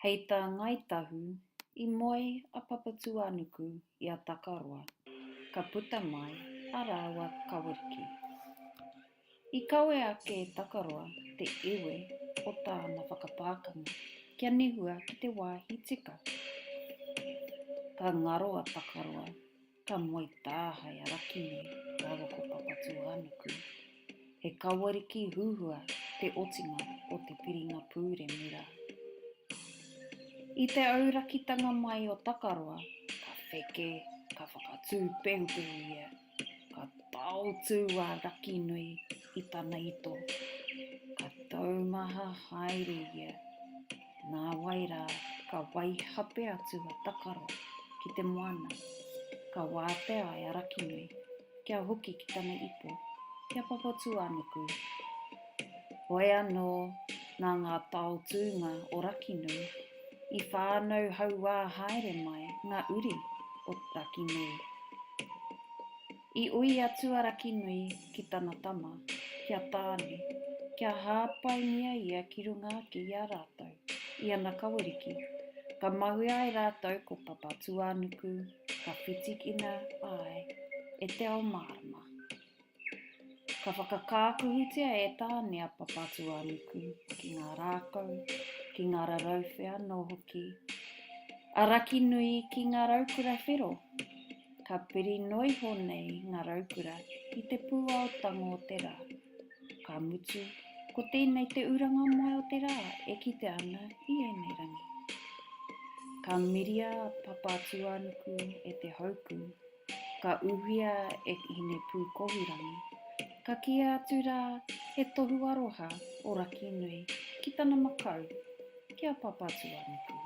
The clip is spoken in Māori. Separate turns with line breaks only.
Hei tā Ngāi Tahu, i moe a Papatūānuku i a Takaroa, ka puta mai a rāua kaweriki. I kawe ake e Takaroa te iwi o tāna whakapākanga kia nehua ki te wāhi tika. Ka ngaro a Takaroa Ka moe tāhae a Rakini rāua ko Papatūānuku. He kawariki huhua te otinga o te piringa pūremu rā. I te aurakitanga mai o Takaroa, ka wheke, ka whakatū pehupehu ia, ka taotū a Rakinui i tana ito, ka taumaha haere ia Nāwai rā, ka waihape atu a Takaro ki te moana, ka wātea e Arakinui kia hoki ki tana ipo, ki a Papatūānuku. Hoi anō, nā ngā taotūnga o Rakinui, i whānau hauā haere mai ngā uri o Rakinui. I ui a Tuarakinui ki tana tama, ki a Tāne, kia hāpaingia ia ki runga ake i a rātou, i ana kaweriki. Ka mahue ai rātou ko Papatūānuku, ka whitikina ai e te ao mārama. Ka whakakākuhutia e Tāne a Papatūānuku ki ngā rākau, ki ngā rarauwhe anō hoki a Rakinui ki ngā raukura whero. Ka piri noiho nei ngā raukura i te pūao tango o te rā. Ka mutu, ko tēnei te uranga moe o te rā e kite ana i ēnei rangi. Ka miria a Papatūānuku e te hauku, ka uhia e Hinepūkohurangi, ka kīa atu rā he tohu aroha o Rakinui ki tana makau, ki a Papatūānuku.